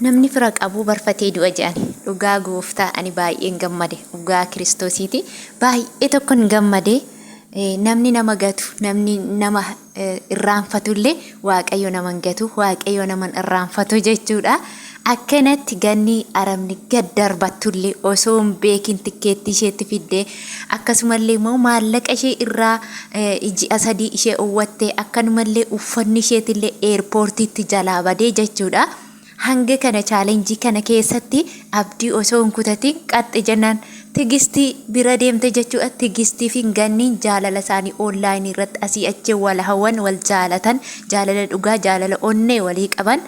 Namni fira qabu barfatee du'a jedhani. Dhugaa gooftaa ani baay'een gammade dhugaa kiristoosiiti baay'ee tokkon gammade namni nama gatu namni nama irraanfatullee waaqayyo naman gatu waaqayyo naman irraanfatu jechuudha. Akkanatti ganni arabni gad darbattullee osoo hin beekin tikkeettii isheetti fiddee akkasumallee immoo maallaqa ishee irraa ji'a sadii ishee owwattee akkanumallee uffanni isheetillee eerpoortiitti jalaa badee jechuudha. Hanga kana challenge kana keessatti abdii osoo hin kutatiin qaxxe jennaan tigistii bira deemte jechuudha. Tigistii fi ganniin jaalala isaanii online irratti asii achi wal hawwan wal jaalatan jaalala dhugaa jaalala onnee walii qaban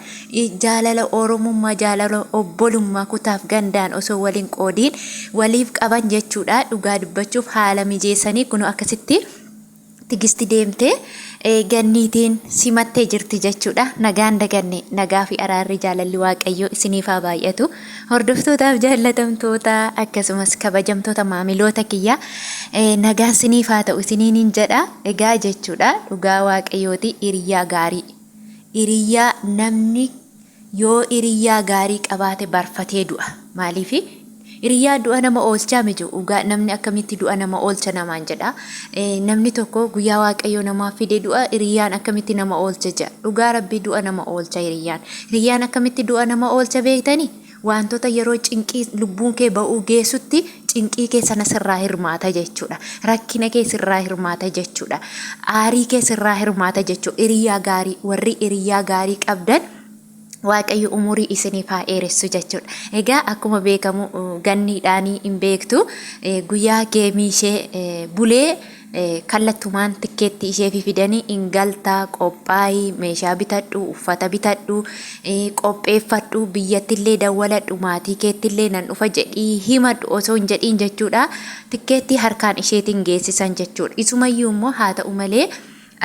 jaalala oromummaa jaalala obbolummaa kutaaf gandaan osoo waliin qoodiin waliif qaban jechuudha. Dhugaa dubbachuuf haala mijeessanii kunoo akkasitti Tigisti deemtee Ganniitiin simattee jirti jechuudha. Nagaan daganne nagaa fi araarri jaalalli waaqayyoo isiniif haa baay'atu. Hordoftootaaf jaallatamtoota akkasumas kabajamtoota maamiloota kiyyaa nagaan isiniif haa ta'u isiniin jedha. Egaa jechuudha dhugaa waaqayyooti hiriyaa gaarii. Hiriyaa namni Yoo iriyyaa gaarii qabaate barfatee du'a. Maaliifi? Iriyyaa du'a nama oolchaa miti dhugaa namni akkamitti du'a nama oolcha namaan jedha. Namni tokko guyyaa waaqayyoo namaaf fide du'a iriyyaan akkamitti nama oolcha jedha. Dhugaa rabbii du'a nama oolcha iriyyaan. Iriyyaan akkamitti du'a nama oolcha beektani? Waantota yeroo cinqii lubbuun kee ba'uu geessutti cinqii kee sana sirraa hirmaata jechuudha. Rakkina kee sirraa hirmaata jechuudha. Aarii kee sirraa hirmaata jechuudha. Hiriyaa gaarii warri hiriyaa gaarii qabdan Waaqayyo umurii isiniif haa dheeressu jechuudha. Egaa akkuma beekamu ganniidhaanii hin beektu guyyaa geemii ishee bulee Kallatumaan tikkeettii isheefi fidanii in galta, qophaa'i, meeshaa bitadhu, uffata bitadhu, qopheeffadhu, biyyattillee dawwaladhu, maatii keettillee nan dhufa jedhii himadhu osoo hin jedhiin jechuudha. Tikkeettii harkaan isheetiin geessisan jechuudha. Isumayyuu immoo haa ta'u malee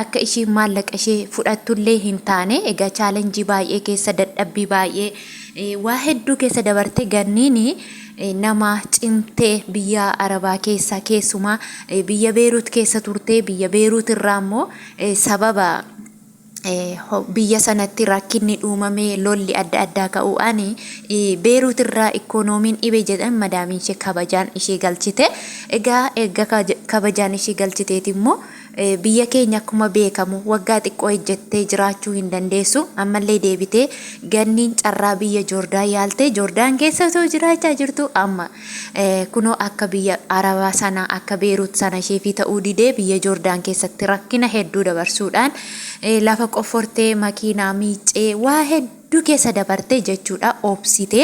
akka ishiin maallaqa ishee fudhattullee hin taane egaa chaalenjii baay'ee keessa dadhabbii baay'ee waa hedduu keessa dabarte ganniini nama cimtee biyya Arabaa keessa keessumaa biyya Beeruut keessa turtee biyya Beeruut irraa immoo sababa biyya sanatti rakkinni dhuumamee lolli adda addaa ka'uudhaan Beeruut irraa ikkoonoomiin dhibe jedhan madaamiin ishee kabajaan ishee galchite. Egaa erga kabajaan ishee galchiteeti immoo Biyya keenya akkuma beekamu waggaa xiqqoo ejjettee jiraachuu hin dandeessu. Ammallee deebitee ganniin carraa biyya Joordaan yaaltee Joordaan keessa osoo jiraachaa jirtu amma kunoo akka biyya Arabaa sana akka Beeruut sana isheefii ta'uu didee biyya Joordaan keessatti rakkina hedduu dabarsuudhaan lafa qoffortee makiinaa miiccee waa hedduu hedduu keessa dabarte jechuudha obsite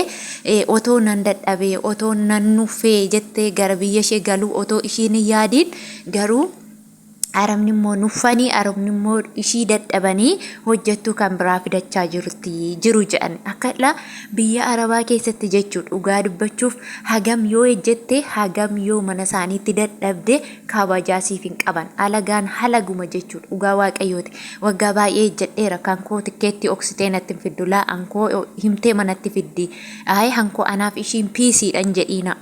otoo nan dadhabe otoo nan nuffee jettee gara biyya ishee galuu otoo ishiin hin yaadiin garuu arabni immoo nuffanii arabni immoo ishii dadhabanii hojjettuu kan biraa fidachaa jirti jiru jedhan akkadha biyya arabaa keessatti jechuu dhugaa dubbachuuf hagam yoo ejjette hagam yoo mana isaaniitti dadhabde kabajaa siif hin qaban alagaan halaguma jechuu dhugaa waaqayyooti waggaa baay'ee ejjadheera kan koo tikkeetti oksitee natti hin fiddu laa ankoo himtee manatti fiddi aayee hankoo anaaf ishiin piisiidhan jedhiina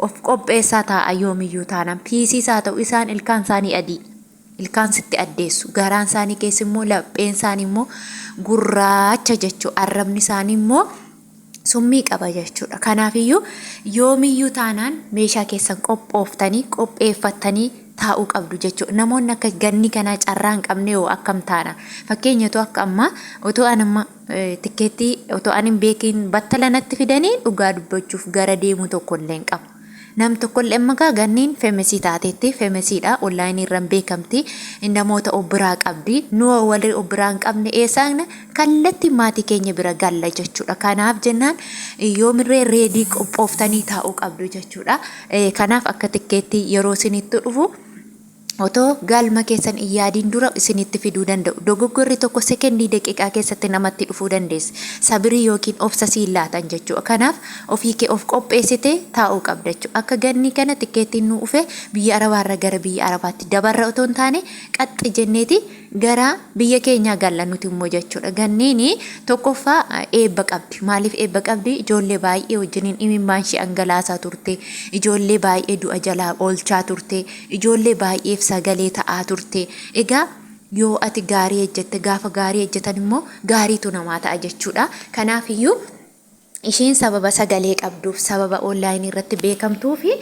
of qopheessaa taa'a yoomiyyuu taanaan piisiis haa ta'u isaan ilkaan isaanii adii ilkaan sitti addeessu garaan isaanii keessa immoo lapheen isaanii immoo gurraacha jechuu arrabni isaanii immoo summii qaba jechuudha. Kanaafiyyuu yoomiyyuu taanaan meeshaa keessan qophooftanii qopheeffattanii taa'uu qabdu jechuudha. Namoonni akka ganni kanaa carraa hin qabne hoo akkam taana? Fakkeenyatu akka ammaa otoo an amma tikkeettii otoo an hin beekin battalanatti fidanii dhugaa dubbachuuf gara deemu tokko illee hin qabu. Nam tokkolle magaa ganniin femesii taateetti femesiidha online irran beekamti namoota of biraa qabdi nuwa warri of biraa hin qabne eessaagna kallatti maatii keenya bira galla jechuudha kanaaf jennaan yoomirree reedii qophooftanii taa'uu qabdu jechuudha kanaaf akka tikkeetti yeroo sinittu dhufu Otoo gaalma keessan hin yaadiin dura isinitti fiduu danda'u. Dogoggorri tokko sekendii daqiiqaa keessatti namatti dhufuu dandeessa. Sabirii ykn obsa siin laatan jechuudha. Kanaaf ofii kee of qopheessitee taa'uu qabda jechuudha. Akka gannii kana tikkeettiin nuu dhufe biyya arabaarra gara biyya arabaatti dabarra otoo hin taane qaxxi jenneeti gara biyya keenyaa galla nuti immoo jechuudha. Ganniin tokkoffaa eebba qabdi. Maaliif eebba qabdi? Ijoollee baay'ee wajjiniin imimmaan ishee angalaasaa turte. Ijoollee baay'ee du'a jalaa oolchaa turte. Ijoollee baay'eef sagalee ta'aa turte. Egaa yoo ati gaarii hejjette, gaafa gaarii hejjetan immoo gaariitu namaa ta'a jechuudha. Kanaaf iyyuu isheen sababa sagalee qabduuf, sababa online irratti beekamtuu fi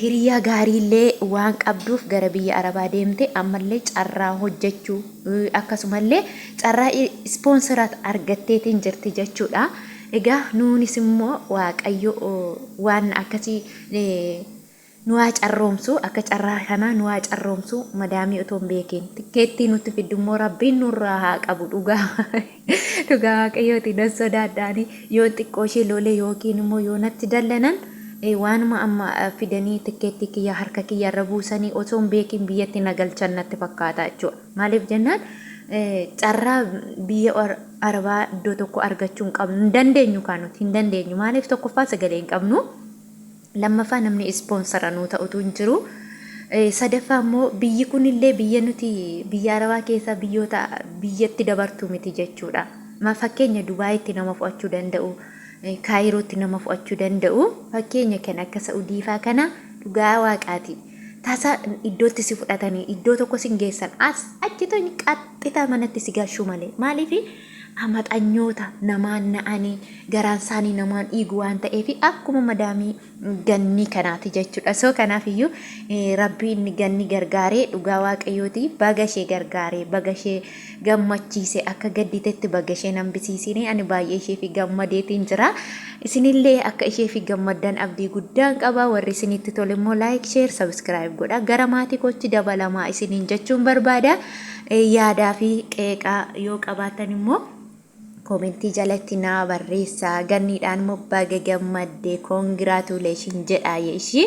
hiriyaa gaarii illee waan qabduuf gara biyya Arabaa deemte ammallee carraa hojjechuu akkasumallee carraa ispoonsiraat argatteetiin jirti jechuudha. Egaa nuunis immoo Waaqayyo waan akkasii Nu haa carroomsu akka carraa kanaa nu haa carroomsu madaamii otoo hin beekiin tikkeettii nutti fiddu immoo rabbiin nurraa haa qabu dhugaa dhugaa waaqayyooti nan sodaadhaani yoon xiqqoo ishee loolee yookiin immoo yoo natti dallanan waanuma amma fidanii tikkeettii kiyya harka kiyya irra buusanii osoo hin beekiin biyyatti na galchan natti fakkaata jechuudha maaliif jennaan carraa biyya arabaa iddoo tokko argachuu hin qabnu hin dandeenyu kaa nuti hin dandeenyu maaliif tokkoffaa sagalee hin qabnu Lammaffaa namni ispoonsara nuu ta'utu hin jiru. Sadaffaa immoo biyyi kunillee biyya nuti biyya Arabaa keessaa biyyoota biyyatti dabartuu miti jechuudha. Ma fakkeenya Dubaayitti nama fo'achuu danda'u, Kaayirootti nama fo'achuu danda'u. Fakkeenya kan akka Sa'udiifaa kana dhugaa waaqaati. Tasa iddootti si fudhatanii iddoo tokko sin geessan as achi tony qaxxitaa manatti si galchuu malee. Maaliif amaxanyoota namaan na'anii garaan isaanii namaan dhiigu waan ta'eef akkuma madaamii gannii kanaati jechuudha. So kanaaf iyyuu eh, rabbiin ganni gargaaree dhugaa waaqayyooti baga ishee gargaaree baga ishee gammachiise akka gadditetti baga ishee nan bisiisine ani baay'ee ishee fi gammadeetiin jira. Isinillee akka ishee fi gammaddan abdii guddaan qaba warri isinitti tole immoo like share subscribe godha gara maatii kootti dabalamaa isiniin jechuun barbaada. Yaadaa fi qeeqa yoo qabaattan immoo koomentii jalatti naa barreessaa. Ganniidhaan immoo baga gammadde congratulation jedhaa ishii.